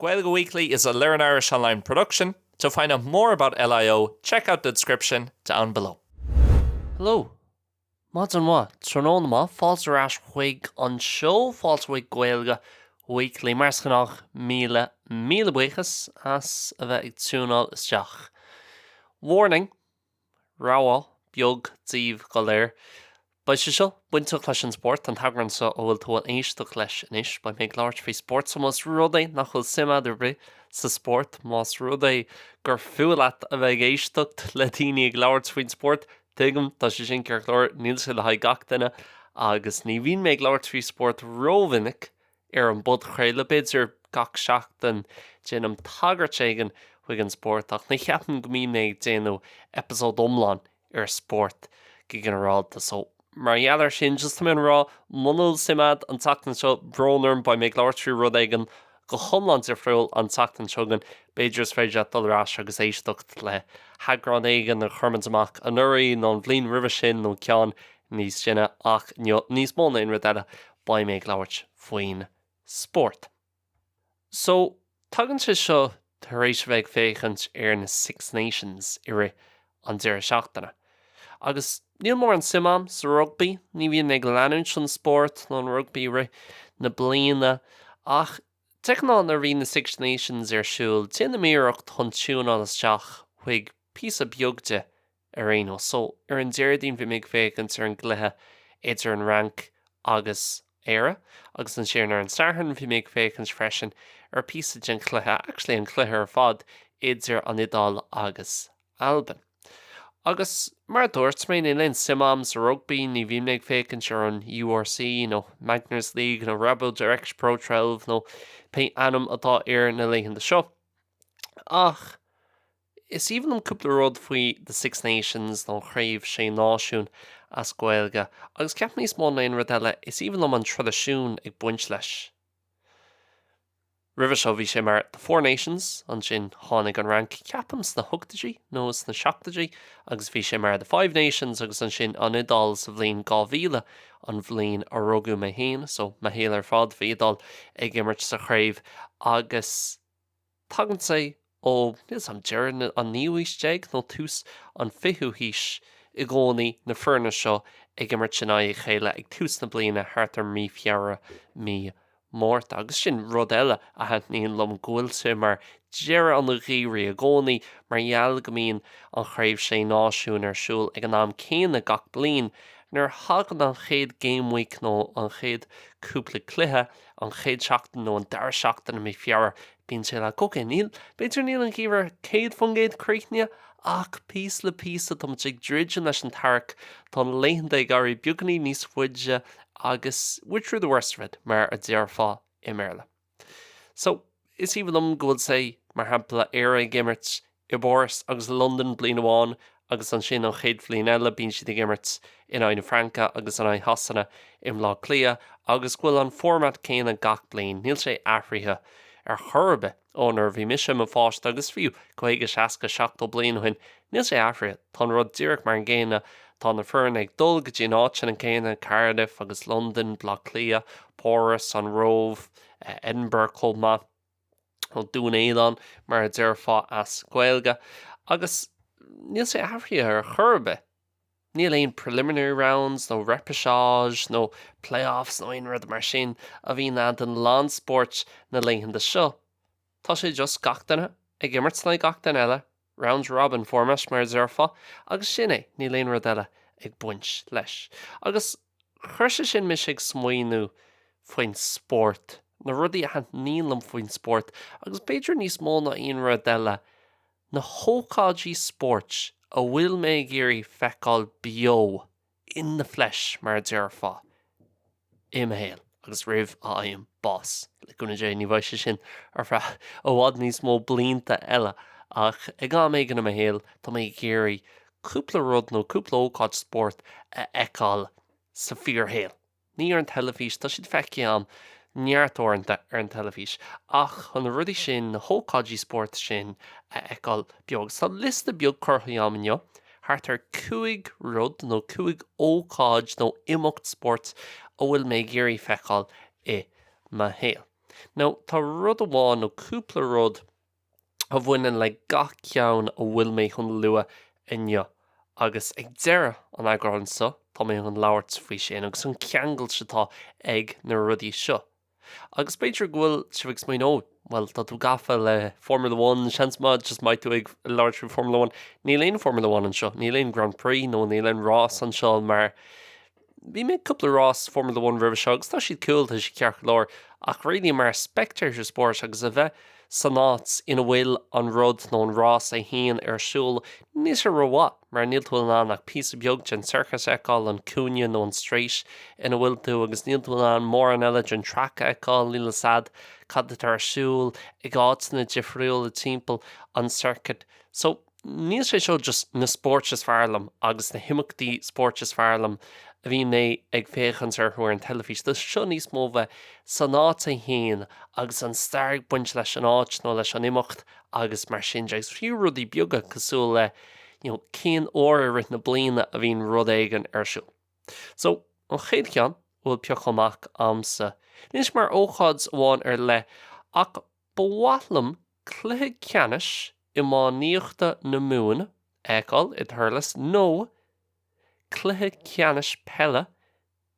Gaeilge Weekly is a Learn Irish Online production. To find out more about LIO, check out the description down below. Hello! Maidin mhaith, tráthnóna maith, fáilte ar ais chuig an seó, fáilte chuig Gaeilge Weekly. Mar is gnách, míle, míle buíochas as a bheith ag tiúnáil isteach. Warning! rabhadh beag daoibh go léir. Beidh sé seo bainteach leis an spórt, an t-eagrán seo a bhfuil tú a éisteacht leis anois. Beidh mé ag labhairt faoi spórt, so más rud é nach bhfuil suim a'd ar bith sa spórt, más rud é gur fuath leat a bheith ag éisteacht le daoine ag labhairt faoin spórt, tuigim, tá sé sin ceart go leor, níl sé le haghaidh gach duine, agus ní bhíonn mé ag labhairt faoi spórt ró-mhinic Ar an bpodchraoladh b'fhéidir, gach seachtain, déanaim tagairt éigin chuig an spórt, ach ní cheapaim go mbím ag déanamh eipeasóid iomlán ar spórt go ginearálta, so mar gheall air sin, just tá mé ag rá, muna bhfuil suim agat an tseachtain seo, brón orm, beidh mé ag labhairt faoi rud éigin go hiomlán difriúil an tseachtain seo chugainn, b'fhéidir is féidir leat dul ar ais agus éisteacht le heagrán éigin a chuir muid amach anuraidh, nó an bhliain roimhe sin, nó ceann níos sine, ach níos mó ná aon rud eile, beidh mé ag labhairt faoin spórt. So, tagann sé seo tar éis a bheith ag féachaint ar na Six Nations i rith an deireadh seachtaine. Agus níl mórán suim a'm sa rugbaí, ní bhíonn mé ag leanúint an spórt nó an rugbaí i rith na bliana, ach de ghnáth nuair a bhíonn na Six Nations ar siúl, déanaim iarracht chun tiúnáil isteach chuig píosa beag de Ar aon nós, so, ar an Déardaoin bhí mé ag féachaint ar an gcluiche idir an Fhrainc agus Éire, agus ansin ar an Satharn bhí mé ag féachaint freisin ar phíosa den chluiche, actually an cluiche ar fad, idir an Iodáil agus Albain. Agus mar a dúirt mé, níl aon suim a'm sa rugbaí, ní bhím ag féachaint ar an URC, nó Magners League, nó RaboDirect Pro 12 nó pé ainm atá air na laethanta seo, ach, Is aoibhinn liom cúpla rud faoi The Six Nations, nó an Chraobh Sé Náisiún as Gaeilge, agus ceapaim níos mó ná aon rud eile, is aoibhinn liom an traidisiún ag baint leis. Roimhe seo bhí sé mar The Four Nations, ansin tháinig an Fhrainc, ceapaim sna hochtaidí nó sna seachtaidí, agus bhí sé mar The Five Nations agus ansin an Iodáil sa bhliain 2000, an bhliain a rugadh mé féin, so mo shaol ar fad bhí Iodáil ag imirt sa chraobh agus. Tagann sé ó, níl 's a'm, deireadh an naoú aois déag nó tús an fichiú haois i gcónaí, na foirne seo ag imirt in aghaidh a chéile ag tús na bliana thart ar mí Feabhra, mí Márta. Agus sin rud eile a thaitníonn liom, go bhfuil sé mar deireadh an gheimhridh i gcónaí mar gheall go mbíonn an Chraobh Sé Náisiún ar siúl ag an am céanna gach bliain, nuair a thagann an chéad game week nó an chéad cúpla cluiche an chéad seachtain nó an dara seachtain i mí Feabhra bíonn sé le cloch. Now, b'fhéidir níl an geimhreadh 100% críochnaithe ach píosa le píosa tá muid ag druidim leis an t-earrach. Tá na laethanta ag éirí beagainín níos faide agus we're through the worst of it mar a déarfá i mBéarla. So. Is aoibhinn liom go bhfuil sé, mar shampla, Éire ag imirt i bPáras agus i Londain bliain amháin agus ansin an chéad bhliain eile bíonn siad ag imirt in aghaidh na Fraince agus in aghaidh Shasana i mBleá Cliath agus go bhfuil an format céanna gach bliain. Níl sé athraithe ar chor ar bith ó nuair a bhí mise i mo pháiste agus fiú 50, 60, 70 bliain ó shin, níl sé athraithe. Tá an rud díreach mar an gcéanna, tá na foirne ag dul go dtí na háiteanna céanna, Cardiff agus Londain, Bleá Cliath, Páras, an Róimh. Edinburgh chomh maith, nó Dún Éideann mar a déarfá as Gaeilge, agus níl sé athraithe ar chor ar bith. Níl aon preliminary rounds nó repechage nó playoffs nó aon rud mar sin a bhíonn ann d'a lán spóirt na laethanta seo. Tá sé just gach duine ag imirt le gach duine eile Round robin format mar a déarfá agus sin é, níl aon rud eile ag baint leis. Agus chuir sé sin mise ag smaoineamh faoin spórt, na rudaí a thaitníonn liom faoin spórt agus b'fhéidir níos mó ná aon rud eile, na hócáidí spóirt a bhfuil mé ag iarraidh feiceáil beo in the flesh mar a déarfá, i mo shaol agus roimh a fhaighim bás, le cúnamh Dé ní bheidh sé sin ar feadh i bhfad níos mó blianta eile, ach ag am éigin i mo shaol tá mé ag iarraidh cúpla rud nó cúpla ócáid spóirt a fheiceáil sa fíorshaol. ní ar an teilifís, tá siad feicthe a'm neart uaireanta ar an teilifís, ach chun na rudaí sin, na hócáidí spóirt sin a fheiceáil beo. Agus tá liosta beag curtha agam inniu, thart ar cúig rud nó cúig ócáid nó imeacht spóirt a bhfuil mé ag iarraidh feiceáil i mo shaol. Now, tá rud amháin nó cúpla rud, a bhaineann le gach ceann a bhfuil mé chun lua inniu, agus ag deireadh an eagráin seo tá mé chun labhairt faoi sin, agus an cheangailt atá ag na rudaí seo. Agus b'fhéidir go bhfuil sibh ag smaoineamh, bhuel, tá tú gafa le Formula One, seans maith, just mbeidh tú ag labhairt faoi Formula One. Níl aon Formula One anseo, níl aon Grand Prix nó níl aon rás anseo mar, Bhí mé ag cúpla rás Formula One roimhe seo agus tá siad cool, tá siad ceart go leor, ach really mar spectator sport agus a bheith san áit ina bhfuil an rud nó an rás é féin ar siúl, níl sé rómhaith mar níl tú in ann ach píosa beag den circuit a fheiceáil, an cúinne nó an straight ina bhfuil tú agus níl tú in ann mórán eile den track a fheiceáil, níl 'fhios a'd cad atá ar siúl ag áiteanna difriúla timpeall an circuit. So. níl sé seo just na spóirt is fearr liom agus na himeachtaí spóirt is fearr liom a bhíonn mé ag féachaint orthu ar an teilifís, tá seo níos mó bheith san áit é féin agus an stair ag baint leis an áit nó leis an imeacht agus mar sin de, agus fiú rudaí beaga cosúil le you know cén uair i rith na bliana a bhíonn rud éigin ar siúl. So an chéad ceann a bhfuil pioctha amach a'msa, níl sé mar ócáid amháin ar leith ach Ba mhaith liom cluiche ceannais iománaíochta na Mumhan a fheiceáil i Thurles nó cluiche ceannais peile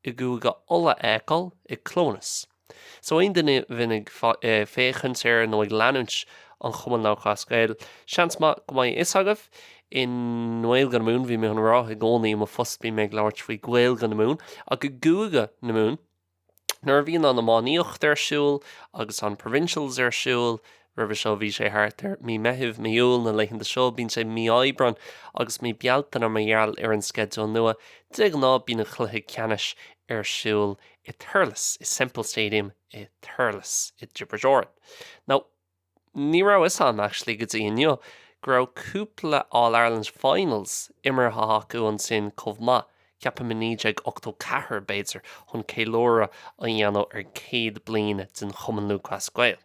i gCúige Uladh a fheiceáil i Clones. So aon duine a bhíonn ag féachaint ar nó ag leanúint an Chumann Lúthchleas Gael, seans maith go mbeidh a fhios agaibh, i nGaeilge na Mumhan, bhí mé chun a rá, i gcónaí i mo phost bíonn mé ag labhairt faoi Ghaeilge na Mumhan, ach i gCúige na Mumhan, Nuair a bhíonn an iománaíocht ar siúl agus an provincials ar siúl, roimhe seo bhí sé thart ar mí Meithimh, mí Iúil, na laethanta seo bíonn sé mí Aibreán agus mí Bealtaine mar gheall ar an sceideal nua, de ghnáth bíonn an cluiche ceannais ar siúl i Thurles, i Semple Stadium i Thurles, i dTiobraid Árann. Now. Ní raibh fhios a'm actually go dtí inniu go raibh cúpla All Ireland Finals imeartha acu ansin chomh maith, ceapaim i 1984 b'fhéidir, chun ceiliúradh a dhéanamh ar 100 bliain den Chumann Lúthchleas Gael.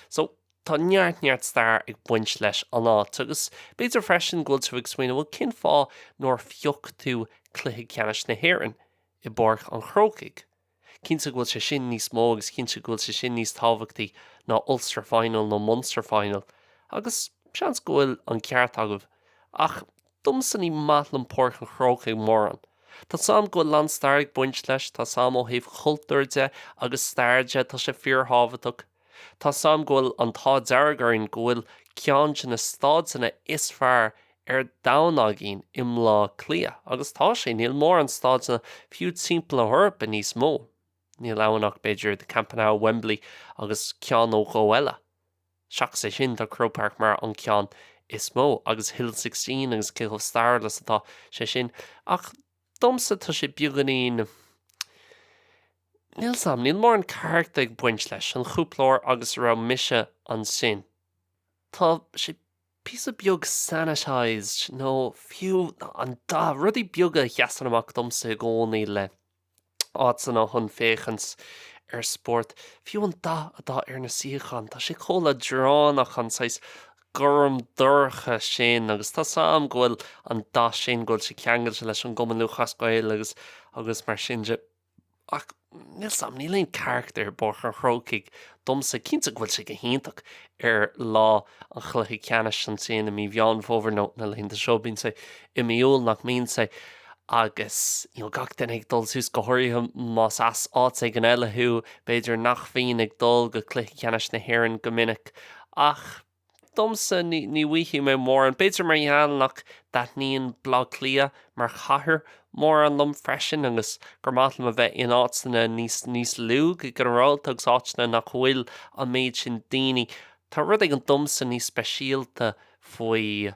So, tá neart neart stair ag baint leis an áit agus b'fhéidir freisin go bhfuil tú ag smaoineamh bhuel cén fáth nár phioc tú Cluiche Ceannais na hÉireann i bPáirc an Chrócaigh? Cinnte go bhfuil sé sin níos mó agus cinnte go bhfuil sé sin níos tábhachtaí ná Ulster Final nó Munster Final, agus seans go bhfuil an ceart agaibh, ach domsa ní maith liom Páirc an Chrócaigh mórán. Tá a fhios a'm go bhfuil lán stair ag baint leis, tá a fhios a'm ó thaobh chultúir de agus stair de, tá sé fíorthábhachtach. Tá a fhios a'm go bhfuil an t-ádh dearg orainn go bhfuil ceann de na staideanna is fearr ar domhan againn i mBleá Cliath, agus tá sé, níl mórán staideanna fiú timpeall na hEorpa níos mó. Níl ann ach b'fhéidir The Camp Nou, Wembley agus ceann nó dhó eile. Seachas é sin, tá Croke Park mar an ceann is mó, agus Hill Sixteen agus cé chomh stairiúil is atá sé sin, ach domsa tá sé beagáinín. Níl a fhios a'm, níl mórán carachtar ag baint leis, an chúpla uair agus a raibh mise ansin. Tá sé píosa beag sanitized, nó fiú an dath, rudaí beaga a sheasann amach domsa i gcónaí le áiteanna chun féachaint ar spórt. Fiú an dath atá ar na suíocháin, tá sé chomh leadránach, an saghas gorm dorcha sin, agus tá a fhios a'm go bhfuil an dath sin, go bhfuil sé ceangailte leis an gCumann Lúthchleas Gael agus, agus mar sin de. Ach, níl 's a'm, níl aon charachtar i bPáirc an Chrócaigh domsa. Cinnte go bhfuil sé go hiontach ar lá an chluiche ceannais ansin i mí Mheán Fómhair nó na laethanta seo, bíonn sé i mí Iúil nach mbíonn sé? agus you know gach duine ag dul suas, go háirithe más as áit éigin eile thú, b'fhéidir nach bhíonn ag dul go cluiche ceannais na hÉireann go minic ach, Domsa, ní mhothaíonn mé mórán, b'fhéidir mar gheall nach dtaitníonn Baile Átha Cliath mar chathair mórán liom freisin agus gur maith liom a bheith in áiteanna níos lú go ginearálta agus áiteanna nach bhfuil an méid sin daoine. Tá rud éigin domsa níos speisialta faoi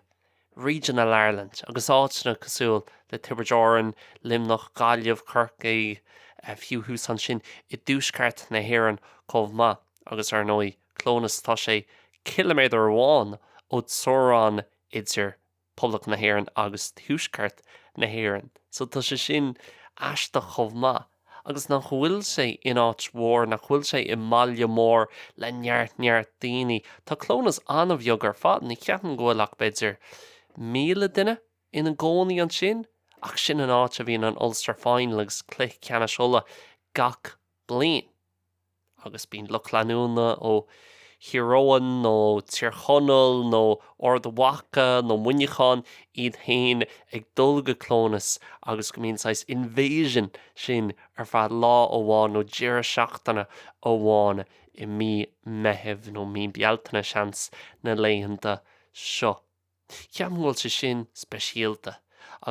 Regional Ireland agus áiteanna cosúil le Tiobraid Árann, Luimneach, Gaillimh, Corcaigh, fiú thuas ansin i dtuaisceart na hÉireann chomh maith agus ar ndóigh, Clónas, tá sé 6 km amháin ó teorainn idir Poblacht na hÉireann agus Tuaisceart na hÉireann, so tá sé sin aisteach chomh maith. Agus nach bhfuil sé in áit mhór, nach bhfuil sé i mbaile mór le neart neart daoine. Tá Clónas an-bheag ar fad, ní cheapaim go bhfuil ach b'fhéidir 1,000 duine ina gcónaí ansin, ach sin an áit a bhíonn an Ulster Final agus Cluiche Ceannais Uladh gach bliain. agus bíonn lucht leanúna ó Thír Eoghain nó Tír Chonaill nó Ard Mhaca nó Muineachán iad féin ag dul go Clónas agus go mbíonn an saghas invasion sin ar feadh lá amháin nó deireadh seachtaine amháin i mí Meithimh nó mí Bealtaine seans, na laethanta seo. Ceapaim go bhfuil sé sin speisialta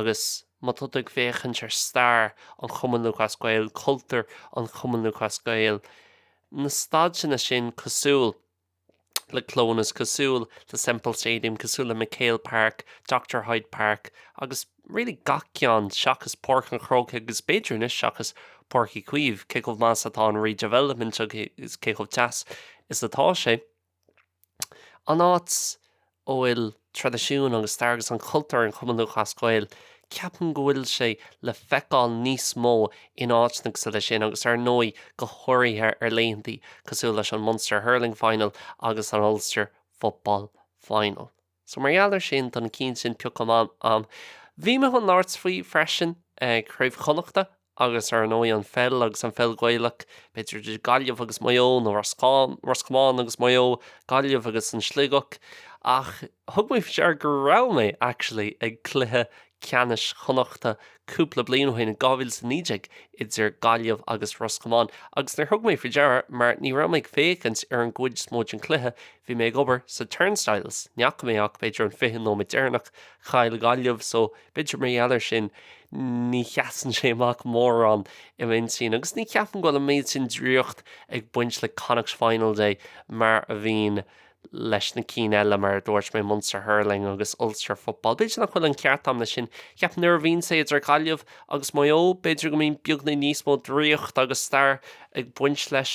agus má tá tú ag féachaint ar stair an Chumann Lúthchleas Gael, cultúr an Chumann Lúthchleas Gael, na staideanna sin cosúil le Clónas, cosúil le Semple Stadium, cosúil le McHale Park, Doctor Hyde Park agus really gach ceann seachas Páirc an Chrócaigh agus b'fhéidir anois seachas Páirc Uí Chaoimh, cé chomh maith is atá an redevelopment agus cé chomh deas is atá sé. an áit a bhfuil traidisiún agus stair agus an cultúr an Chumann Lúthchleas Gael, ceapaim go bhfuil sé le feiceáil níos mó in áiteanna cosúil leis sin agus ar ndóigh go háirithe ar laethanta cosúil leis an Munster Hurling Final agus an Ulster Football Final. So mar gheall ar sin, don cinn sin a phioc mé. Bhí mé chun labhairt faoi freisin, Craobh Chonnachta agus ar ndóigh an pheil agus an pheil Ghaelach, b'fhéidir idir Gaillimh agus Maigh Eo nó Ros Comáin agus Maigh Eo, Gaillimh agus an Sligeach. Ach thug mé faoi deara go raibh mé actually ag cluiche ceannais Chonnachta cúpla bliain ó shin, 2019, idir Gaillimh agus Ros Comáin agus níor thug mé faoi deara mar ní raibh mé ag féachaint ar an gcuid is mó den cluiche, Bhí mé ag obair sa turnstiles, ní fhaca mé ach b'fhéidir an fiche nóiméad deireanach, chaill Gaillimh so b'fhéidir mar gheall ar sin ní sheasann sé amach mórán i m'aigne agus ní cheapann go bhfuil an méid sin draíocht ag baint le Connacht Final Day mar a bhíonn leis na cinn eile, mar a dúirt mé Munster Hurling agus Ulster Football. B'fhéidir nach bhfuil an ceart agam leis sin, cheapaim nuair a bhíonn sé idir Gaillimh agus Maigh Eo b'fhéidir go mbíonn beagán níos mó draíocht agus stair ag baint leis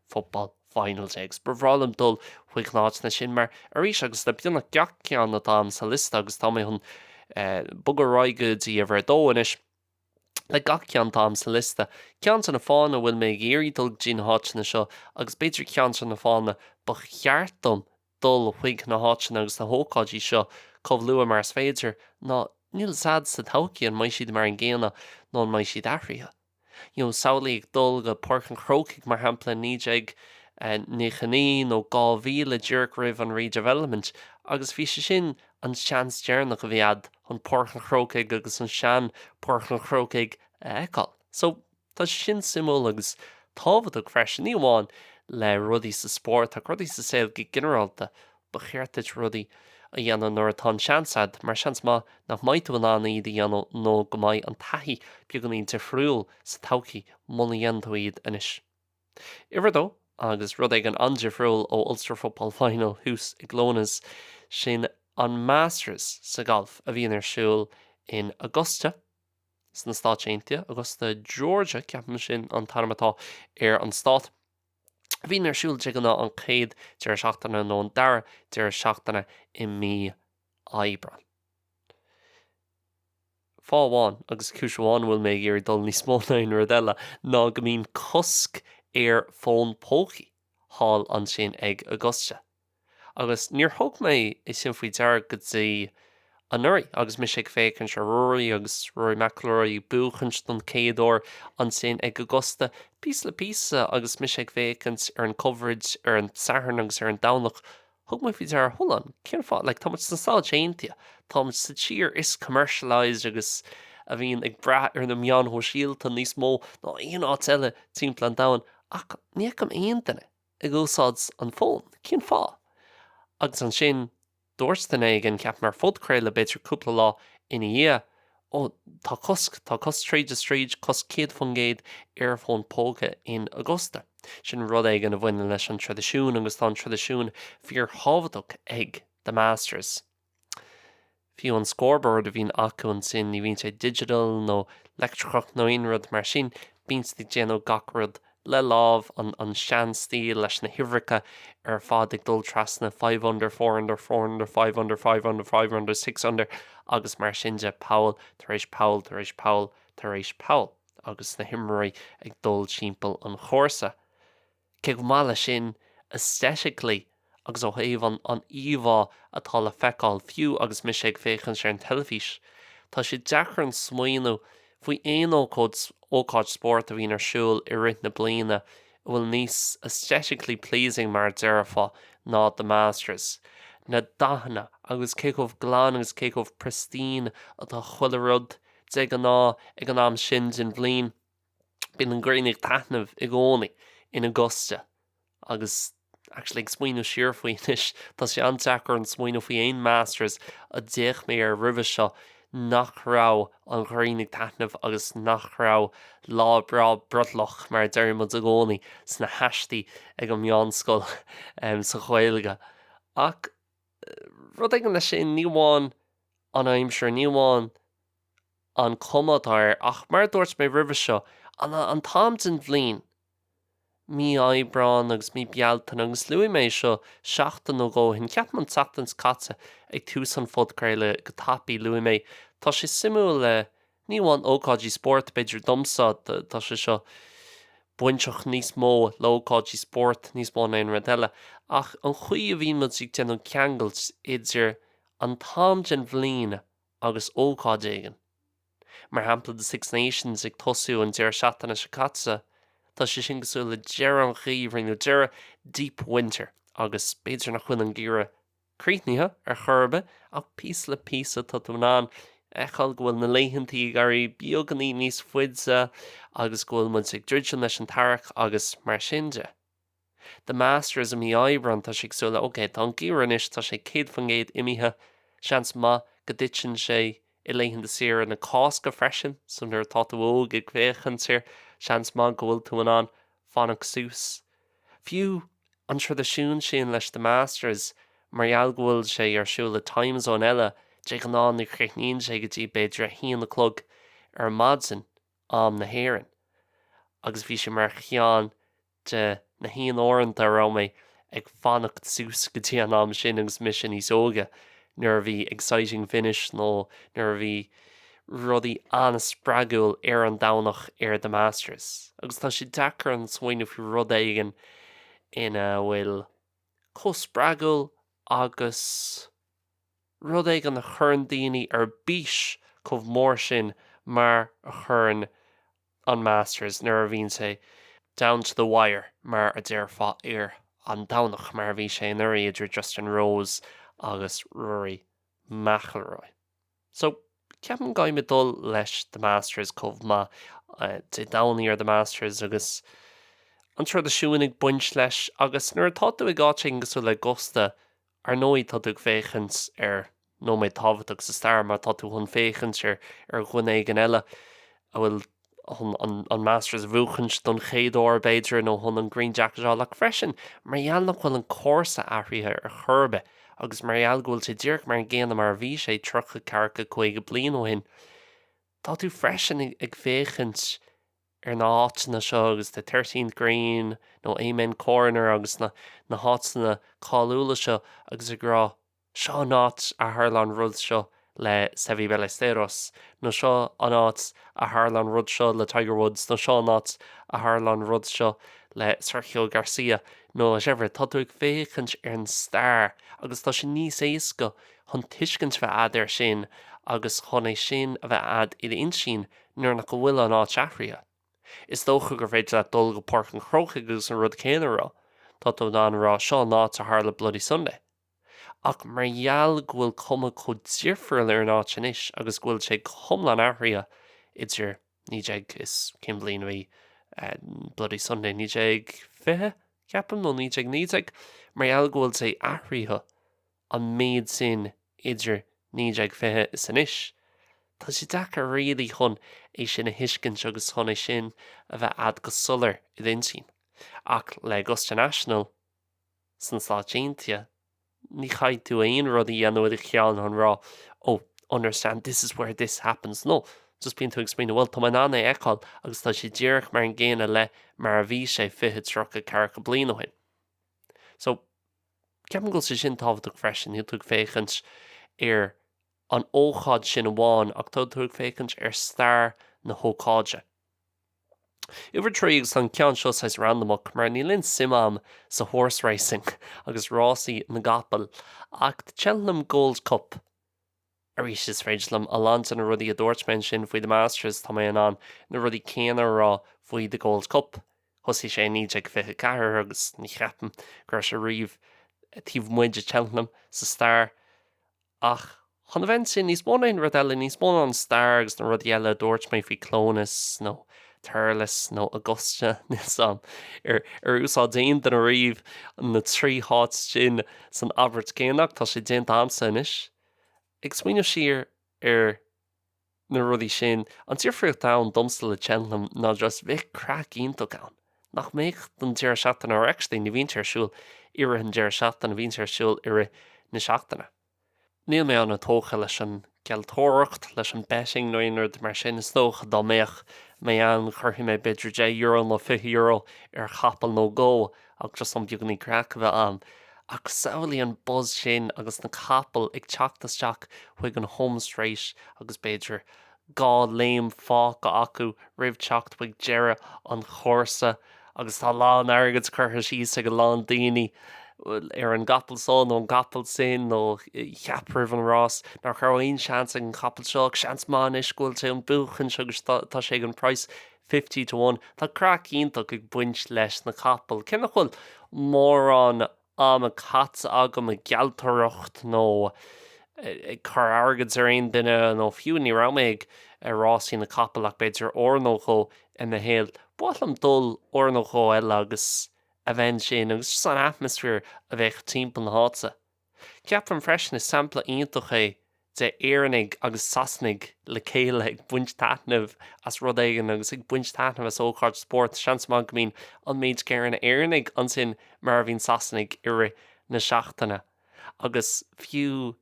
football final day agus ba bhreá liom dul chuig na háiteanna sin mar, arís, agus le beagnach gach ceann atá ann sa liosta, agus tá mé chun bogadh ar aghaidh go dtí uimhir a dó anois, le gach ceann atá ann sa liosta, ceann de na fáthanna a bhfuil mé ag iarraidh dul go dtí na háiteanna seo, agus b'fhéidir ceann de na fáthanna ba cheart dom dul chuig na háiteanna agus na hócáidí seo chomh luath mar is féidir, ná níl fhios a'd sa todhchaí, an mbeidh siad mar an gcéanna nó an mbeidh siad athraithe? you know samhlaigh ag dul go Páirc an Chrócaigh mar shampla in 1999 nó 2000 díreach roimh an redevelopment agus bhí sé sin an seans deireanach a bhí a'd chun Páirc an Chrócaigh agus an sean Páirc an Chrócaigh a fheiceáil so tá sé sin suimiúil agus tábhachtach freisin ní amháin le rudaí sa spórt ach rudaí sa saol go ginearálta ba cheart duit rudaí a dhéanamh nuair atá an seans a'd, mar seans maith nach mbeidh tú in ann iad a dhéanamh nó go mbeidh an taithí beagáinín difriúil sa todhchaí, muna dhéanann tú iad anois. Uimhir a dó, agus rud éigin an-difriúil ó Ulster Football Final thuas i gClones, sin an Masters sa ghalf a bhíonn ar siúl in Augusta, sna Stáit Aontaithe, Augusta Georgia, ceapaim sin an t-ainm atá ar an stát. bhíonn ar siúl de ghnáth an chéad deireadh seachtaine nó an dara deireadh seachtaine i mí Aibreáin. Fáth amháin, agus cúis amháin, a bhfuil mé ag iarraidh dul níos mó ná aon rud eile ná go mbíonn cosc ar fóin pócaí thall ansin ag Augusta. Agus níor thug mé é sin faoi deara go dtí anuraidh agus mise ag féachaint ar Rory agus Rory McIlroy ag buachaint don chéad uair ansin ag Augusta, píosa le píosa agus mise ag féachaint ar an coverage ar an Satharn agus ar an Domhnach, thug mé faoi deara, hold on, cén fáth, like tá muid sna Stáit Aontaithe, tá muid sa tír is commercialised agus a bhíonn ag brath ar na meáin shóisialta níos mó ná aon áit eile timpeall an domhain ach ní fheicim aon duine ag úsáid an fón, cén fáth? Agus ansin dúirt duine éigin, ceapaim ar phodchraoladh b'fhéidir cúpla lá ina dhiaidh, ó, tá cosc, tá cosc tríd is tríd, cosc 100% ar fón póca in Augusta. Sin rud éigin a bhaineann leis an traidisiún agus tá an traidisiún fíorthábhachtach ag The Masters. Fiú an scoreboard a bhíonn acu ansin, ní bhíonn sé digital nó leictreachach nó aon rud mar sin, bíonn siad ag déanamh gach rud le lámh, an seanstíl leis na huimhreacha ar fad ag dul trasna, five under, four under, four under, five under, five under, five under, six under agus mar sin de, poll tar éis poll tar éis poll tar éis poll agus na himreoirí ag dul timpeall an chúrsa. Cé go maith leis sin, aesthetically agus ó thaobh an an íomhá atá le feiceáil fiú agus mise ag féachaint ar an teilifís, tá sé deacair orm smaoineamh faoi aon ócáid ócáid spóirt a bhíonn ar siúl i rith na bliana a bhfuil níos aesthetically pleasing mar a déarfá ná The Masters. Na dathanna agus cé chomh glan agus cé chomh pristine atá chuile rud, de ghnáth, ag an am sin den bhliain. bíonn an ghrian ag taitneamh i gcónaí in Augusta agus actually ag smaoineamh siar faoi anois, tá sé an-deacair orm smaoineamh faoi aon masters a d'fhéach mé air roimhe seo nach raibh an ghrian ag taitneamh agus nach raibh lá breá brothallach, mar a deireadh muid i gcónaí sna haistí ag an meánscoil, em, sa Ghaeilge. Ach rud éigin leis sin, ní amháin an aimsir, ní amháin. an chuma atá air, ach mar a dúirt mé roimhe seo, an an t-am den bhliain, mí Aibreáin agus mí Bealtaine, agus luaigh mé é seo seachtain nó dhó ó shin, ceapaim an tseachtain seo caite ag tús an phodchraoladh, go tapaidh, luaigh mé, tá sé suimiúil le, ní amháin ócáidí spóirt, b'fhéidir domsa, tá sé seo bainteach níos mó le ócáidí spóirt níos mó ná aon rud eile, ach an chaoi a bhíonn muid ag déanamh ceangailt idir an t-am den bhliain agus ócáid éigin, mar shampla The Six Nations ag tosú an deireadh seachtaine seo caite, tá sé sin cosúil le deireadh an gheimhridh nó deireadh deep winter agus b'fhéidir nach bhfuil an geimhreadh críochnaithe ar chor ar bith ach píosa le píosa tá tú in ann a fheiceáil go bhfuil na laethantaí ag éirí beagainín níos faide agus go bhfuil muid ag druidim leis an t-earrach agus mar sin de. The Masters i mí Aibreán tá sé cosúil le ok tá an geimhreadh anois tá sé 100% imithe seans maith go dtiteann sé i laethanta saoire na Cásca freisin so nuair atá tú óg ag féachaint air seans maith go bhfuil tú in ann fanacht suas fiú an traidisiún sin le The Masters mar gheall go bhfuil sé ar siúl i time zone eile de ghnáth ní chríochnaíonn sé go dtí b'fhéidir a haon a chlog ar maidin am na hÉireann agus bhí sé mar cheann de na haonuaireanta a raibh mé ag fanacht suas go dtí an am sin agus mise níos óige, nuair a bhí exciting finish nó nuair a bhí rudaí an-spreagúil ar an Domhnach ar The Masters. Agus tá sé deacair chun smaoineamh faoi rud éigin ina bhfuil chomh spreagúil agus rud éigin a chuireann daoine ar bís chomh mór sin mar a chuireann an Masters nuair a bhíonn sé down to the wire mar a déarfá ar an Domhnach, mar a bhí sé anuraidh idir Justin Rose agus Rory McIlroy. So, ceapaim go gcaithfimid dul leis The Masters chomh maith. Dé Domhnaigh ar The Masters agus an traidisiún ag baint leis agus nuair atá tú ag áit éigin cosúil le Augusta, ar ndóigh, tá tú ag féachaint ar nóiméad tábhachtach sa stair mar tá tú chun féachaint ar dhuine éigin eile a bhfuil chun an Masters a bhuachaint don chéad uair, b'fhéidir, nó chun an Green Jacket a fháil, ach freisin mar gheall nach bhfuil an cúrsa athraithe ar chor ar bith agus mar gheall go bhfuil sé díreach mar an gcéanna mar a bhí sé tríocha, ceathracha, caoga bliain ó shin. Tá tú freisin ag féachaint ar na háiteanna seo agus The Thirteenth Green nó Amen Corner agus na háiteanna cáiliúla seo agus ag rá seo an áit a tharla an rud seo le Seve Ballesteros nó seo an áit a tharla an rud seo le Tiger Woods nó seo an áit a tharla an rud seo le Sergio Garcia nó whatever. Tá tú ag féachaint ar an stair agus tá sé níos éasca chun tuiscint a bheith a'd ar sin agus chun é sin a bheith a'd i d'intinn nuair nach go bhfuil an áit athraithe, is dócha gur féidir leat dul go Páirc an Chrócaigh agus an rud céanna a rá. Tá tú in ann a rá, seo an áit a tharla Bloody Sunday. Ach mar gheall go bhfuil cuma chomh difriúil ar an áit anois agus go bhfuil sé go hiomlán athraithe idir naoi déag is, cén bhliain a bhí Bloody Sunday, naoi déag fiche, ceapaim, nó naoi déag naoi déag? mar gheall go bhfuil sé athraithe, an méid sin idir naoi déag fiche is anois. Tá sé deacair really chun é sin a thuiscint agus chun é sin a bheith a'd go soiléir i d'intinn. Ach le Augusta National sna Stáit Aontaithe, ní chaithfidh tú aon rud a dhéanamh i do cheann chun rá oh, understand, this is where this happened. No, just bíonn tú ag smaoineamh bhuel, tá mé in ann é a fheiceáil agus tá sé díreach mar an gcéanna le mar a bhí sé fiche, tríocha, ceathracha bliain ó shin. So. Ceapaim go bhfuil sé sin tábhachtach freisin, níl tú ag féachaint ar an ócáid sin amháin ach tá tú ag féachaint ar stair na hócáide. Uimhir a trí, agus an ceann seo saghas randamach mar níl aon suim a'm sa horse racing agus rásaí na gcapall ach Cheltenham Gold Cup, Arís, is féidir liom a lán de na rudaí a dúirt mé ansin faoi The Masters, tá mé in ann na rudaí céanna a rá faoi The Gold Cup. Thosaigh sé i 1924 agus ní cheapaim go raibh sé riamh taobh amuigh de Cheltenham sa stair. Ach chun a bheith ansin, níos mó ná aon rud eile, níos mó ná an stair agus na rudaí eile a dúirt mé faoi Cluain Eois nó Durlas nó Augusta, níl 's 'am, ar ar úsáid aon duine riamh na trí áit sin san abairt chéanna, ach tá sé déanta a'msa anois. Ag smaoineamh siar ar na rudaí sin, an difríocht ann domsa le Cheltenham ná just bheadh craic iontach ann. Nach mbeadh don deireadh seachtaine, or actually ní bhíonn sé ar siúl i rith an deireadh seachtaine, bíonn sé ar siúl i rith na seachtaine. Níl mé an-tógtha leis an ngealltóireacht, leis an betting nó aon rud mar sin, is dócha dá mbeadh mé ann chuirfeadh mé b'fhéidir deich euro nó fiche euro ar chapall nó dhó ach just chun beagáinín craic a bheith ann. Ach samhlaigh an buzz sin agus na capaill ag teacht isteach chuig an home straight agus b'fhéidir dhá léim fágtha acu roimh teacht chuig deireadh an chúrsa agus tá a lán airgid curtha síos ag a lán daoine ar an gcapall seo nó an capall sin nó cheap roimh an rás nach raibh aon seans ag an gcapall seo ach seans maith anois go bhfuil sé chun buachan agus tá sé ag an price fifty to one. Tá craic iontach ag baint leis na capaill cé nach bhfuil mórán ama caite agam ag gealltóireacht nó ag cur airgid ar aon duine nó fiú ní raibh mé ag rásaí na capall ach b'fhéidir uair nó dhó i mo shaol, ba bhreá liom dul uair nó dhó eile agus a bheith ansin agus just an atmaisféar a bheadh timpeall na háite. Ceapaim freisin is sampla iontach é de Éireannaigh agus Sasanaigh le chéile ag baint taitneamh as rud éigin agus ag baint taitneamh as ócáid spóirt, seans maith go mbíonn an méid céanna Éireannaigh ansin mar a bhíonn Sasanaigh i rith na seachtaine. Agus fiú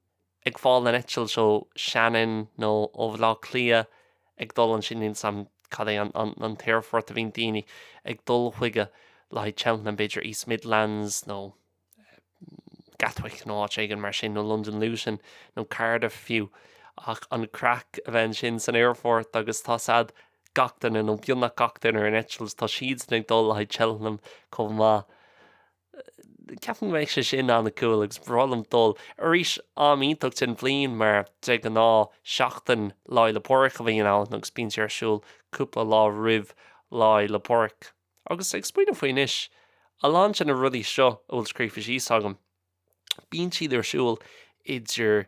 ag fáil an eitilt ó Shannon nó ó Bhaile Átha Cliath ag dul ansin, níl 's a'm cad é an t-aerfort a bhíonn daoine ag dul chuige le haghaidh Cheltenham, b'fhéidir East Midlands nó. Gatwick nó áit éigin mar sin, nó Londain Luton nó Cardiff fiú, ach an craic a bheith ansin san aerfort agus tá siad, gach duine, nó beagnach gach duine ar an eitilt, tá siad ag dul le haghaidh Cheltenham chomh maith. Ceapaim go mbeadh sé sin an-cool agus ba bhreá liom dul. Arís, am iontach den bhliain mar de ghnáth seachtain Lá 'le Pádraig a bhíonn ann agus bíonn sé ar siúl cúpla lá roimh Lá 'le Pádraig. Agus ag smaoineamh faoi anois, a lán de na rudaí seo a bhfuil scríofa síos agam, bíonn siad ar siúl idir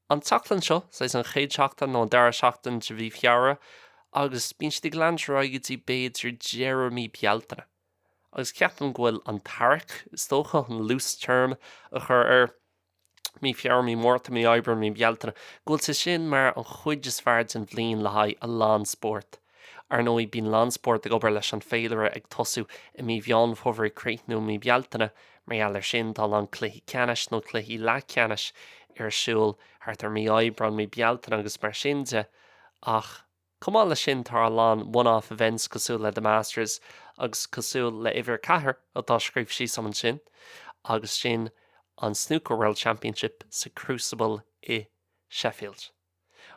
an tseachtain seo, saghas an chéad seachtain nó an dara seachtain de mhí Feabhra, agus bíonn siad ag leanúint ar aghaidh go dtí b'fhéidir deireadh mí Bealtaine. Agus ceapaim go bhfuil an t-earrach, is dócha, an loose term a chur ar, mí Feabhra, mí Mhárta, mí Aibreáin, mí Bealtaine, go bhfuil sé sin mar an chuid is fearr den bhliain le haghaidh a lán spórt. Ar ndóigh, bíonn a lán spórt ag obair leis an féilire ag tosú i mí Mheán Fómhair ag críochnú i mí Bealtaine, mar gheall ar sin, tá a lán cluichí ceannais nó cluichí leathcheannais ar siúl thart ar mí Aibreáin, mí Bealtaine agus mar sin de, ach. Chomh maith leis sin, tá a lán one-off events cosúil le The Masters agus cosúil le Uimhir a Ceathair atá scríofa síos agam ansin agus sin an Snooker World Championship sa Crucible i Sheffield.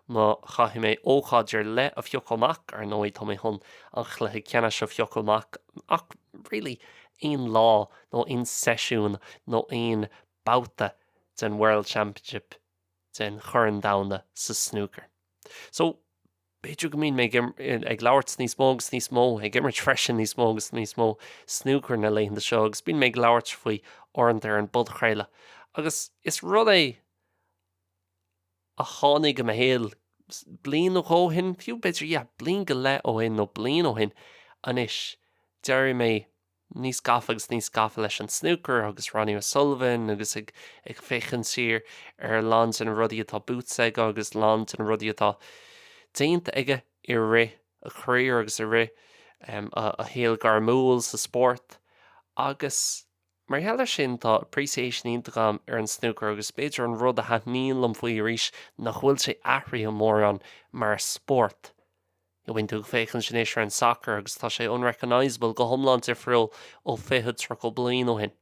Má chaithfidh mé ócáid ar leith a phiocadh amach, ar ndóigh, tá mé chun an Chluiche Ceannais a phiocadh amach ach really aon lá nó aon seisiún nó aon babhta den World Championship den Chorn Domhanda sa snúcar. So, b'fhéidir go mbíonn mé ag labhairt níos mó agus níos mó, ag imirt freisin níos mó agus níos mó snúcar na laethanta seo agus bíonn mé ag labhairt faoi uaireanta ar an bpodchraoladh agus is rud é a tháinig i mo shaol bliain nó dhó ó shin, fiú b'fhéidir, yeah, bliain go leith ó shin nó bliain ó shin anois, d'éirigh mé. níos gafa agus níos gafa leis an snúcar agus Ronnie O'Sullivan agus ag féachaint siar ar a lán de na rudaí atá buaite aige agus a lán de na rudaí atá déanta aige i rith a chareer agus i rith a shaol gairmiúil sa spórt agus mar gheall ar sin tá appreciation iontach agam ar an snúcar agus b'fhéidir an rud a thaitníonn liom faoi arís nach bhfuil sé athraithe mórán mar spórt. Bíonn tú ag féachaint anois ar an sacar agus tá sé unrecognisable, go hiomlán difriúil ó fiche, tríocha bliain ó shin.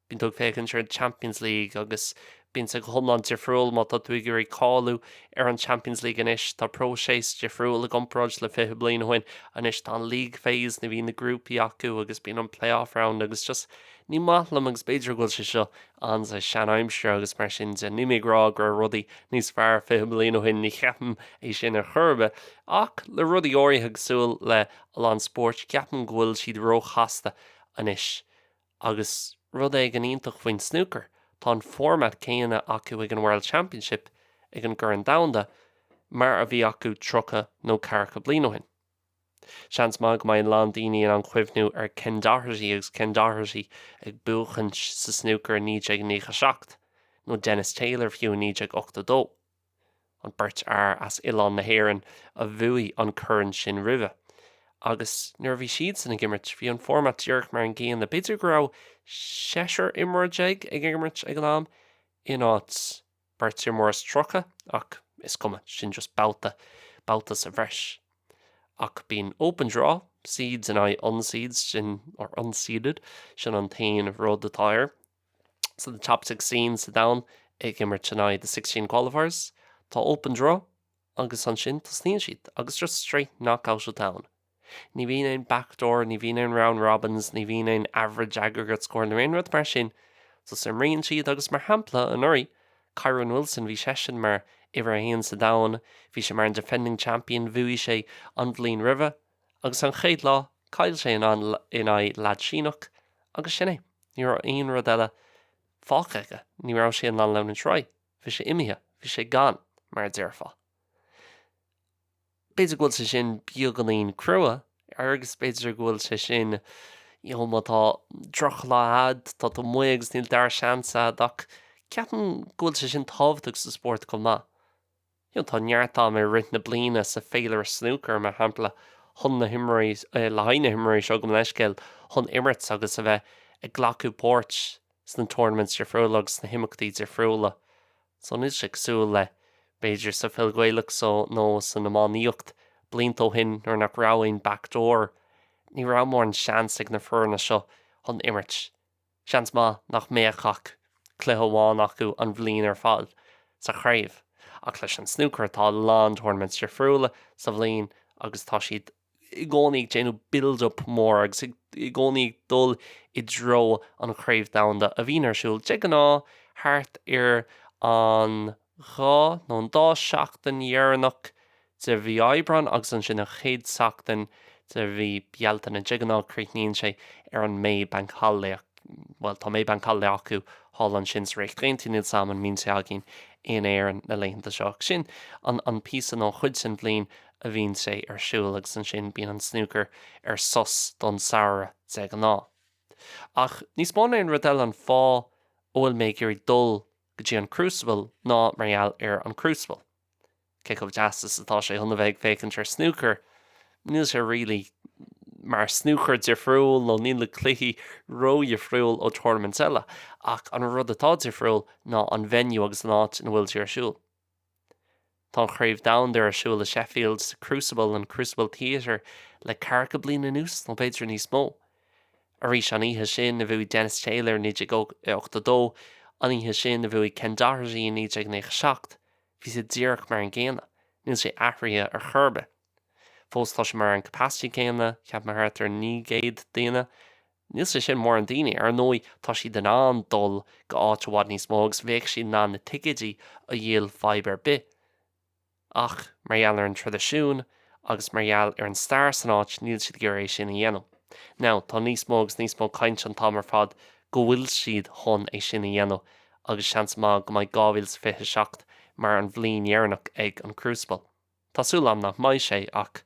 Bíonn tú ag féachaint ar an Champions League agus bíonn sé go hiomlán difriúil má tá tú ag iarraidh cáiliú ar an Champions League anois. Tá próiseas difriúil i gcomparáid le fiche bliain ó shin. Anois tá an league phase ní bhíonn na grúpaí acu agus bíonn an playoff round agus just ní maith liom agus b'fhéidir go bhfuil sé seo an-seanaimseartha agus mar sin de níl mé ag rá go raibh rudaí níos fearr fiche bliain ó shin, ní cheapaim é sin ar chor ar bith, ach le rudaí áirithe cosúil le a lán spórt ceapaim go bhfuil siad róchasta anois. Agus rud éigin iontach faoin snúcar, tá an format céanna acu ag an World Championship, ag an gCorn Domhanda, mar a bhí acu tríocha nó ceathracha bliain ó shin. Seans maith go mbeidh a lán daoine in ann cuimhniú ar Ken Doherty agus Ken Doherty ag buachaint sa snúcar 1997, nó Dennis Taylor fiú 1982, an beirt fhear as oileán na hÉireann a bhuaigh an corn sin roimhe. Agus nuair a bhí siadsan ag imirt, bhí an format díreach mar an gcéanna, b'fhéidir go raibh seisear imreoir déag ag imirt ag an am in áit Beirt ar mhór is tríocha, ach is cuma, sin just babhta, babhta sa bhreis. Ach bíonn open draw, seeds in aghaidh unseeds, nó, or unseeded, sin an t-aon rud atá air. So the top sixteen sa domhan ag imirt in aghaidh the sixteen qualifiers, tá open draw, agus ansin tosaíonn siad, agus just straight knock-out ar siúl ann. Ní bhíonn aon backdoor, ní bhíonn aon round robins, ní bhíonn aon average aggregate score nó aon rud mar sin. Just imríonn siad agus mar shampla anuraidh, Kyren Wilson, bhí seisean mar uimhir a haon sa domhan, bhí sé mar an defending champion, bhuaigh sé an bhliain roimhe agus an chéad lá, chaill sé in an, in aghaidh leaid Síneach agus sin é. Ní raibh aon rud eile fágtha aige, ní raibh sé in ann leanúint ar aghaidh, bhí sé imithe, bhí sé gone mar a déarfá. B'fhéidir go bhfuil sé sin beagánín crua, agus b'fhéidir go bhfuil sé sin, you know, má tá droch lá a'd, tá tú amuigh agus níl dara seans a'd, ach ceapann go bhfuil sé sin tábhachtach sa spórt chomh maith. You know, tá neart am i rith na bliana, sa féilire snúcair, mar shampla, chun na himreoirí, le haghaidh na himreoirí seo, gabh mo leithscéal, chun imirt agus a bheith ag glacadh páirt sna tournaments difriúla agus sna himeachtaí difriúla. So níl sé cosúil le, b'fhéidir, sa pheil Ghaelach, sa, nó san iománaíocht, blianta ó shin, nuair nach raibh aon back door, ní raibh mórán seans ag na foirne seo chun imirt. Seans maith nach mbeadh ach cluiche amháin acu an bhliain ar fáil sa chraobh, ach leis an snúcar tá a lán tournaments difriúla sa bhliain agus tá siad i gcónaí ag déanamh build-up mór agus i gcónaí ag dul i dtreo an Chraobh Dhomhanda, a bhíonn ar siúl, de ghnáth, thart ar an dhá nó an dá sheachtain dheireanach de mhí Aibreáin agus ansin an chéad tseachtain de mhí Bealtaine. De ghnáth, críochnaíonn sé ar an May Bank Holiday, bhuel, tá May Bank Holiday acu thall ansin sa Ríocht Aontaithe, níl a fhios agam an mbíonn sé againn in Éirinn na laethanta seo? Sin an píosa nó an chuid sa bhliain a bhíonn sé ar siúl agus ansin bíonn an snúcar ar sos don samhradh de ghnáth. Ach níos mó ná aon rud eile an fáth a bhfuil mé ag iarraidh dul go dtí an Crucible ná mar gheall ar an Crucible. Cé chomh deas is atá sé chun a bheith ag féachaint ar snúcar, níl sé really mar snúcar difriúil nó níl na cluichí ró-dhifriúil ó tournaments eile ach an rud atá difriúil ná an venue agus an áit ina bhfuil sé ar siúl. Tá an Chraobh Domhanda ar siúl i Sheffield sa Crucible, an Crucible Theatre, le ceathracha bliain anuas, nó b'fhéidir níos mó. Arís an oíche sin a bhuaigh Dennis Taylor i 1982, an oíche sin a bhuaigh Ken Doherty i 1997. Bhí sé díreach mar an gcéanna. Níl sé athraithe ar chor ar bith. Fós tá sé mar an capacity céanna, ceapaim thart ar 900 duine. Níl sé sin mórán daoine. Ar ndóigh tá siad in ann dul go háit i bhfad níos mó agus bheadh siad in ann na ticeidí a dhíol fadhb ar bith. Ach mar gheall ar an traidisiún agus mar gheall ar an stair san áit níl siad ag iarraidh é sin a dhéanamh. Now tá níos mó agus níos mó caint an t-am ar fad go bhfuil siad chun é sin a dhéanamh agus seans maith go mbeidh 2027 mar an bhliain dheireanach ag an Crucible. Tá súil agam nach mbeidh sé, ach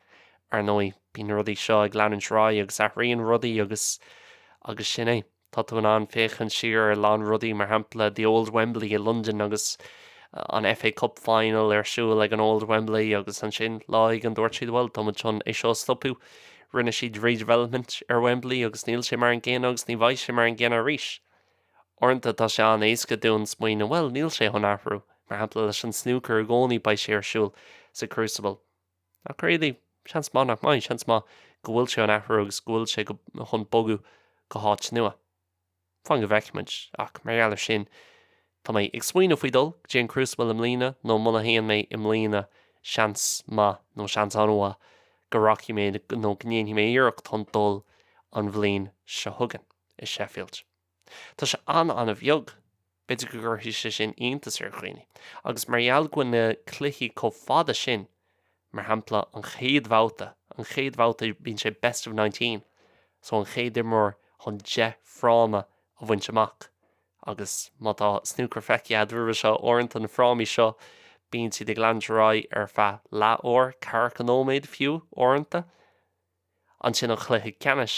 ar ndóigh bíonn rudaí seo ag leanúint ar aghaidh agus athraíonn rudaí agus, agus sin é. Tá tú in ann féachaint siar ar a lán rudaí, mar shampla The Old Wembley i Londain agus an FA Cup Final ar siúl ag an Old Wembley agus ansin lá éigin dúirt siad bhuel, tá muid chun é seo a stopadh, rinne siad redevelopment ar Wembley agus níl sé mar an gcéanna agus ní bheidh sé mar an gcéanna arís. Uaireanta tá sé an-éasca dúinn smaoineamh, bhuel, níl sé chun athrú. Mar shampla, leis an snúcar i gcónaí beidh sé ar siúl sa crucible. Ach really? Seans maith nach mbeidh. Seans maith go bhfuil sé chun athrú agus go bhfuil sé chun bogadh go háit nua. Fan go bhfeicfimid. Ach mar gheall ar sin, tá mé ag smaoineamh faoi dhul go dtí an crucible i mbliana nó muna théann mé i mbliana, seans maith nó seans an-mhaith go rachaidh mé nó go ndéanfaidh mé iarracht chun dul an bhliain seo chugainn. i Sheffield. Tá sé an-an-bheag. B'fhéidir go gcuirfidh sé sin iontas ar dhaoine, agus mar gheall go bhfuil na cluichí chomh fada sin, mar shampla an chéad bhabhta, an chéad bhabhta bíonn sé best of nineteen, so an chéad imreoir chun deich fráma a bhaint amach, agus má tá snúcar feicthe agat roimhe seo, uaireanta na frámaí seo bíonn siad ag leanúint ar aghaidh ar feadh leathuair, ceathracha nóiméad fiú uaireanta. Ansin an cluiche ceannais.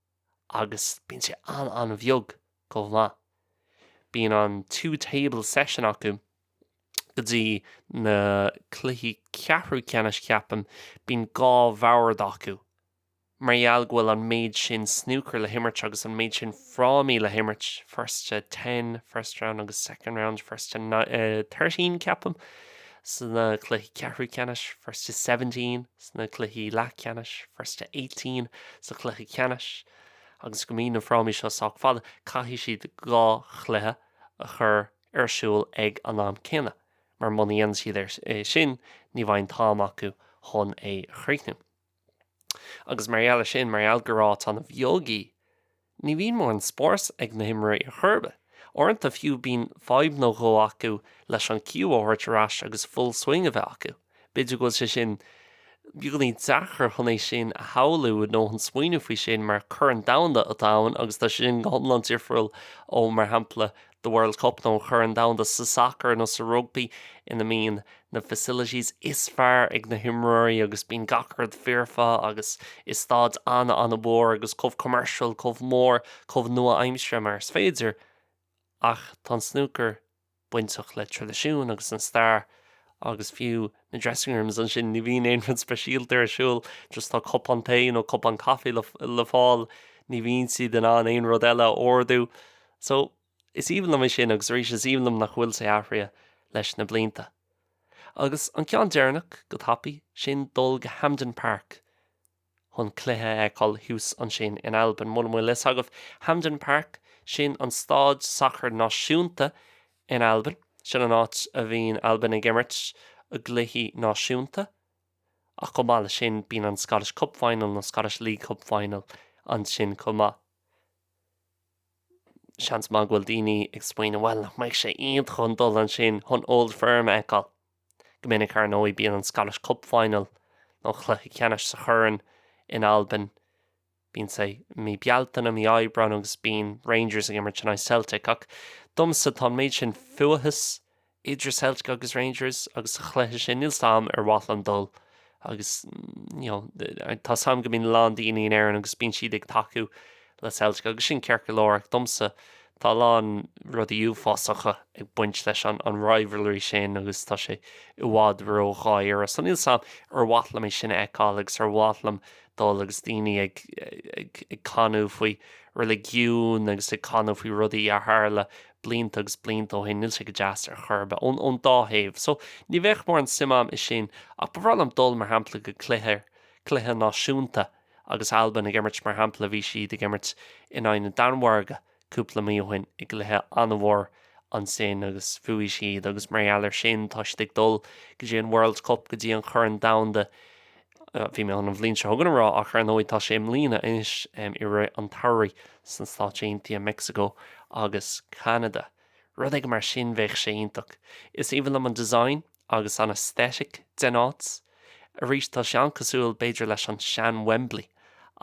agus bíonn sé an-an-bheag chomh maith. Bíonn an two table session acu go dtí na cluichí ceathrú ceannais ceapaim, bíonn dhá bhord acu mar gheall go bhfuil an méid sin snúcar le himirt agus an méid sin frámaí le himirt, first to ten first round agus second round first to thirteen ceapaim sna cluichí ceathrú ceannais, first to seventeen. sna cluichí leathcheannais, First to Eighteen, sa chluiche ceannais, agus go mbíonn na frámaí seo sách fada, caithfidh siad dhá chluiche a chur ar siúl ag an am céanna, mar muna ndéanann siad é sin, ní bheadh an t-am acu chun é a chríochnú. Agus mar gheall ar sin, mar gheall gur áit an-bheag í, Ní bhíonn mórán spáis ag na himreoirí ar chor ar bith. Uaireanta fiú bíonn fadhb nó dhó acu leis an cue a thabhairt ar ais agus full swing a bheith acu. B'fhéidir go bhfuil sé sin beagáinín deacair chun é sin a shamhlú nó chun smaoineamh faoi sin mar Corn Domhanda atá ann agus tá sé sin go hiomlán difriúil ó mar shampla The World Cup nó an Corn Domhanda sa sacar nó sa rugbaí ina mbíonn na facilities is fearr ag na himreoirí agus bíonn gach rud foirfe agus is stáid an-mhór agus chomh commercial, chomh mór, chomh nua-aimsire mar is féidir. Ach tá an snúcar bainteach le tradisiún agus an stair agus fiú na dressing rooms ansin, ní bhíonn aon rud speisialta ar siúl, just tá cupán tae nó cupán caife le fáil, ní bhíonn siad in ann aon rud eile a ordú. So, is aoibhinn liom é sin agus arís is aoibhinn liom nach bhfuil sé athraithe leis na blianta. Agus an ceann deireanach, go tapaidh, sin dul go Hampden Park chun cluiche a fheiceáil thuas ansin in Albain. Muna bhfuil fhios agaibh, Hampden Park, sin an stáid sacair náisiúnta in Albain. Sin an áit a bhíonn Albain ag imirt a gcluichí náisiúnta. Ach chomh maith le sin, bíonn an Scottish Cup Final nó Scottish League Cup Final ansin chomh maith. seans maith go bhfuil daoine ag smaoineamh, bhuel, nach mbeidh sé iontach chun dul ansin chun Old Firm a fheiceáil. Go minic, ar ndóigh, bíonn an Scottish Cup Final, nó Chluiche Ceannais sa Chorn, in Albain. Bíonn sé i mí Bealtaine, mí Aibreáin, agus bíonn Rangers ag imirt in aghaidh Celtic. Ach domsa, tá an méid sin fuathas idir Celtic agus Rangers agus sa chluiche sin níl fhios agam ar mhaith liom dul agus you know tá fhios agam go mbíonn a lán daoine in Éirinn agus bíonn siad ag tacú le Celtic agus sin ceart go leor ach domsa tá a lán rudaí uafásacha ag baint leis an rivalry sin agus tá sé i bhfad ró-dháiríre so níl fhios agam ar mhaith liom é sin a fheiceáil agus ar mhaith liom dul agus daoine ag canadh faoi reiligiún agus ag canadh faoi rudaí a tharla blianta agus blianta ó shin, níl sé go deas ar chor ar bith, ón dá thaobh. So, ní bheadh mórán suim agam i sin, ach ba bhreá liom dul, mar shampla, go cluiche, cluiche náisiúnta agus Albain ag imirt, mar shampla, bhí siad ag imirt in aghaidh na Danmhairge cúpla mí ó shin i gcluiche an-mhór ansin agus bhuaigh siad agus mar gheall air sin, tá siad ag dul go dtí an World Cup, go dtí an Chorn Domhanda Bhí mé chun an bhliain seo chugainn a rá, ach ar ndóigh tá sé i mbliana anois, i rith an tsamhraidh sna Stáit Aontaithe, Mexico agus Canada. Rud éigin mar sin, bheadh sé iontach. Is aoibhinn liom an design agus an aesthetic den áit. Arís, tá sé an-cosúil b'fhéidir leis an sean-Wembley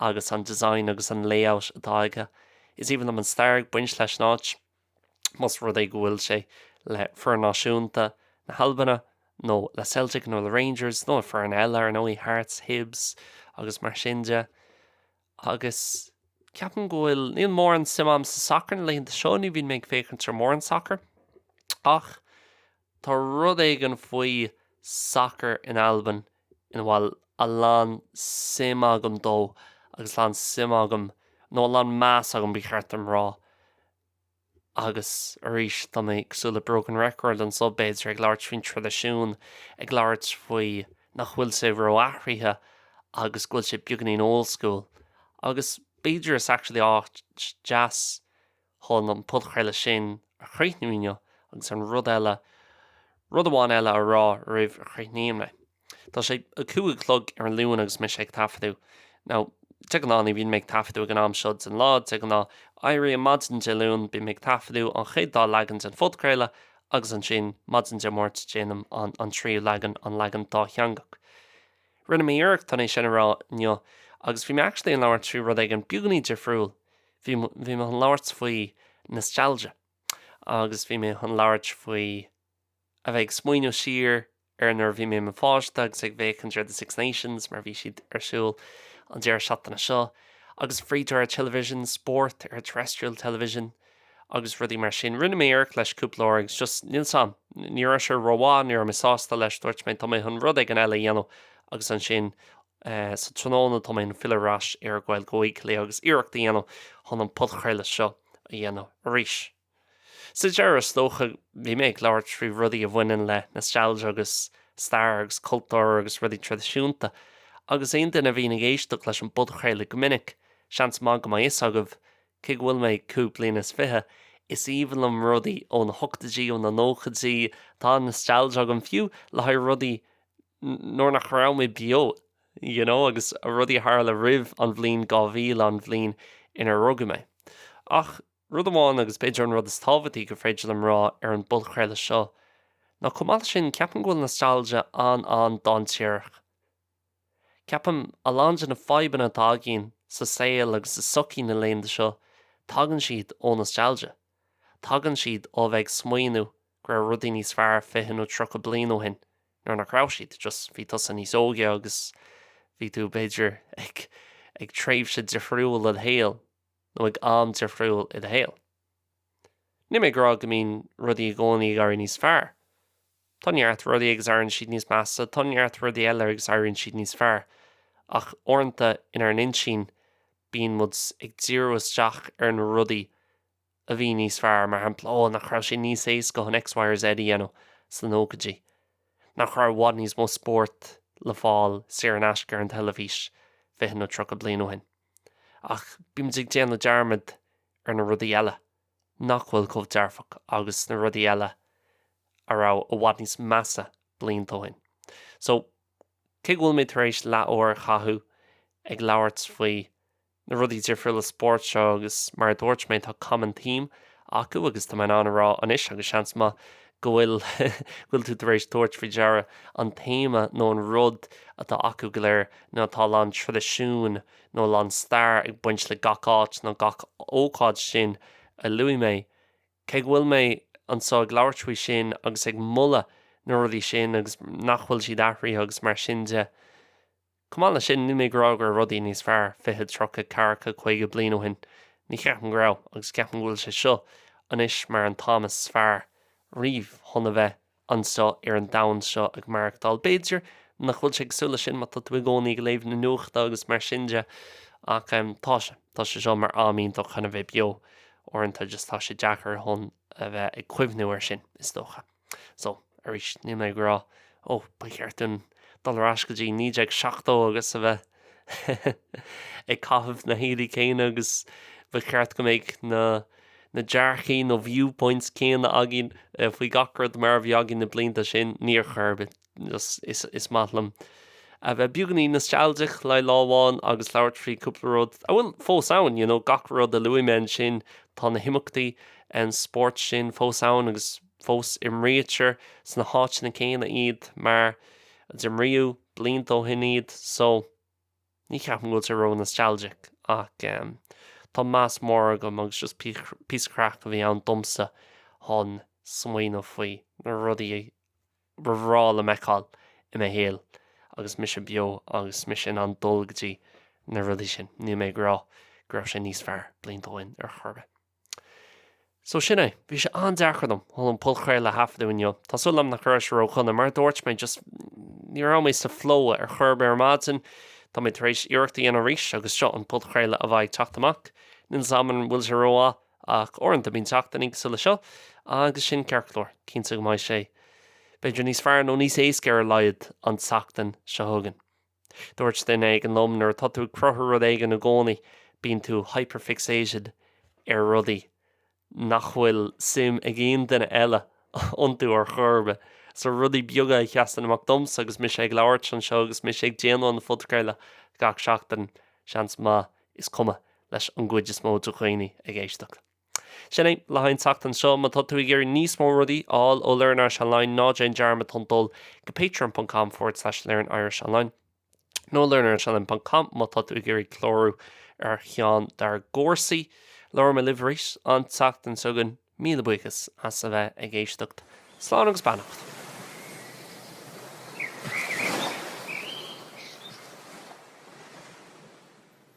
agus an design agus an layout atá aige. Is aoibhinn liom an stair ag baint leis an áit. más rud é go bhfuil sé le foireann náisiúnta na hAlbana nó le Celtic nó le Rangers nó le foireann eile, ar ndóigh, Hearts, Hibs agus mar sin de. Agus ceapaim go bhfuil, níl mórán suim agam sa sacar na laethanta seo, ní bhíonn mé ag féachaint ar mórán sacar. Ach Tá rud éigin faoi sacar in Albain ina bhfuil a lán suim agam ann agus a lán suim agam, nó a lán meas agam ba cheart dom rá, agus arís tá mé cosúil le broken record anso b'fhéidir, ag labhairt faoin traidisiún, ag labhairt faoi nach bhfuil sé ró-athraithe agus go bhfuil sé beagainín old school. Agus b'fhéidir is actually áit deas. Chun an podchraoladh sin a chríochnú inniu, agus an rud eile, rud amháin eile a rá roimh a chríochnaím. Tá sé a cúig a chlog ar an Luan agus mise ag taifeadadh, now de ghnáth ní bhíonn mé ag taifeadadh ag an am seo den lá, de ghnáth éirím maidin Dé Luain, bím ag taifeadadh an chéad dá leagan den phodchraoladh, agus ansin maidin Dé Máirt déanaim an tríú leagan, an leagan dátheangach. Rinne mé iarracht é sin a rá inniu, agus bhí mé actually ag labhairt faoi rud éigin beagainín difriúil, Bhí mé chun labhairt faoi nostalgia agus bhí mé chun labhairt faoi a bheith ag smaoineamh siar ar nuair a bhí mé i mo pháiste agus ag féachaint ar The Six Nations mar bhí siad ar siúl an deireadh seachtaine seo agus free to air television, spórt ar terrestrial television agus rudaí mar sin. Rinne mé iarracht leis cúpla uair agus just níl 's a'm, ní raibh sé rómhaith, ní raibh mé sásta leis, dúirt mé tá mé chun rud éigin eile a dhéanamh agus ansin Sa tráthnóna, tá mé chun filleadh ar ais ar Ghaeilge Weekly agus iarracht a dhéanamh chun an podchraoladh seo a dhéanamh arís. Sa deireadh, is dócha, bhí mé ag labhairt faoi rudaí a bhaineann le nostalgia agus stair agus cultúr agus rudaí traidisiúnta, agus aon duine a bhíonn ag éisteacht leis an bpodchraoladh go minic, seans maith go mbeidh fhios agaibh, cé go bhfuil mé cúig bliana is fiche, is aoibhinn liom rudaí ó na hochtaidí, ó na nóchaidí, tá nostalgia agam, fiú le haghaidh rudaí nuair nach raibh mé beo, you know, agus rudaí a tharla roimh an bhliain 2000, an bhliain inar rugadh mé. Ach rud amháin, agus b'fhéidir an rud is tábhachtaí gur féidir liom a rá ar an bpodchraoladh seo, ná chomh maith leis sin, ceapaim go bhfuil nostalgia an-an-dainséarach. Ceapaim, a lán de na fadhbanna atá againn sa saol agus sa sochaí na laethanta seo, tagann siad ó nostalgia. Tagann siad ó a bheith ag smaoineamh go raibh rudaí níos fearr fiche nó tríocha bliain ó shin, nuair nach raibh siad, just bhí tusa níos óige agus bhí tú, b'fhéidir, ag tréimhse difriúil i do shaol, nó ag am difriúil i do shaol. Níl mé ag rá go mbíonn rudaí i gcónaí ag éirí níos fearr. Tá neart rudaí agus éiríonn siad níos measa, tá neart rudaí eile agus éiríonn siad níos fearr, ach uaireanta inár n-intinn bíonn muid ag díriú isteach ar na rudaí a bhí níos fearr, mar shampla, ó, nach raibh sé níos éasca chun X, Y or Z a dhéanamh sna nóchaidí? Nach raibh i bhfad níos mó spóirt le fáil saor in aisce ar an teilifís fiche nó tríocha bliain ó shin? Ach bímid ag déanamh dearmad ar na rudaí eile nach bhfuil chomh dearfach agus na rudaí eile a raibh i bhfad níos measa blianta ó shin. So, cé go bhfuil mé tar éis leathuair a chaitheamh ag labhairt faoi na rudaí difriúla spóirt seo agus mar a dúirt mé tá common theme acu agus tá mé in ann a rá anois agus seans maith go bhfuil go bhfuil tú tar éis tabhairt faoi deara an téama nó an rud atá acu go léir ná tá a lán traidisiúin nó a lán stair ag baint le gach áit nó gach ócáid sin a luaigh mé. Cé go bhfuil mé anseo ag labhairt faoi sin agus ag moladh na rudaí sin agus nach bhfuil siad athraithe agus mar sin de, Chomh maith leis sin, níl mé ag rá go raibh rudaí níos fearr fiche, tríocha, ceathracha, caoga bliain ó shin. Ní cheapaim go raibh, agus ceapaim go bhfuil sé seo anois mar an t-am is fearr riamh chun a bheith anseo ar an domhan seo ag maireachtáil. B'fhéidir nach bhfuil sé cosúil leis sin má tá tú i gcónaí ag léamh na nuachta agus mar sin de, ach tá sé. Tá sé seo mar am iontach chun a bheith beo. Uaireanta just tá sé deacair chun a bheith ag cuimhniú air sin, is dócha. So, arís, níl mé ag rá, ó, ba cheart dúinn dul ar ais go dtí 1970 agus a bheith ag caitheamh na héadaí céanna agus ba cheart go mbeadh na na dearcthaí nó viewpoints céanna againn faoi gach rud mar a bhí againn na blianta sin, ní ar chor ar bith. Is maith liom a bheith beagainín nostalgic le lá amháin agus labhairt faoi cúpla rud a bhfuil fós ann, you know, gach rud a luaigh mé ansin, tá na himeachtaí spóirt sin fós ann agus fós imrítear sna háiteanna céanna iad mar a d'imríodh blianta ó shin iad, so, ní cheapaim go bhfuil sé ró-nostalgic ach em tá meas mór agam agus just píosa craic a bhí ann domsa chun smaoineamh faoi na rudaí a ar bhreá liom a fheiceáil i mo shaol agus mise beo agus mise in ann dul go dtí na rudaí sin. Níl mé ag rá go raibh sé níos fearr blianta ó shin ar chor ar bith. So sin é. Bhí sé an-deacair dom chun an podchraoladh a thaifeadadh inniu. Tá súil agam nach raibh sé ródhona. Mar a dúirt mé, just, ní raibh mé sa flow ar chor ar bith ar maidin. Tá mé tar éis iarracht a dhéanamh arís agus seo an podchraoladh a bheidh ag teacht amach. Níl 's 'am an bhfuil sé rómhaith. Ach uaireanta bíonn seachtainí cosúil le seo, agus sin ceart go leor. Cinnte go mbeidh sé b'fhéidir níos fearr, nó níos éasca ar a laghad, an tseachtain seo chugainn. Dúirt duine éigin liom, nuair atá tú ag cruthú rud éigin i gcónaí, bíonn tú hyperfixated ar rudaí nach bhfuil suim ag aon duine eile iontu ar chor ar bith. So rudaí beaga a sheasann amach domsa agus mise ag labhairt anseo agus mise ag déanamh an phodchraoladh gach seachtain, seans maith is cuma leis an gcuid is mó de dhaoine ag éisteacht. Sin é le haghaidh an tseachtain seo. Má tá tú ag iarraidh níos mó rudaí a fháil ó Learn Irish Online, ná déan dearmad chun dul go patreon.com forward slash learnirishonline nó learnirishonline.com má tá tú ag iarraidh clárú ar cheann dár gcúrsaí. Labhróidh mé libh arís an tseachtain seo chugainn. Míle buíochas as a bheith ag éisteacht. Slán agus beannacht.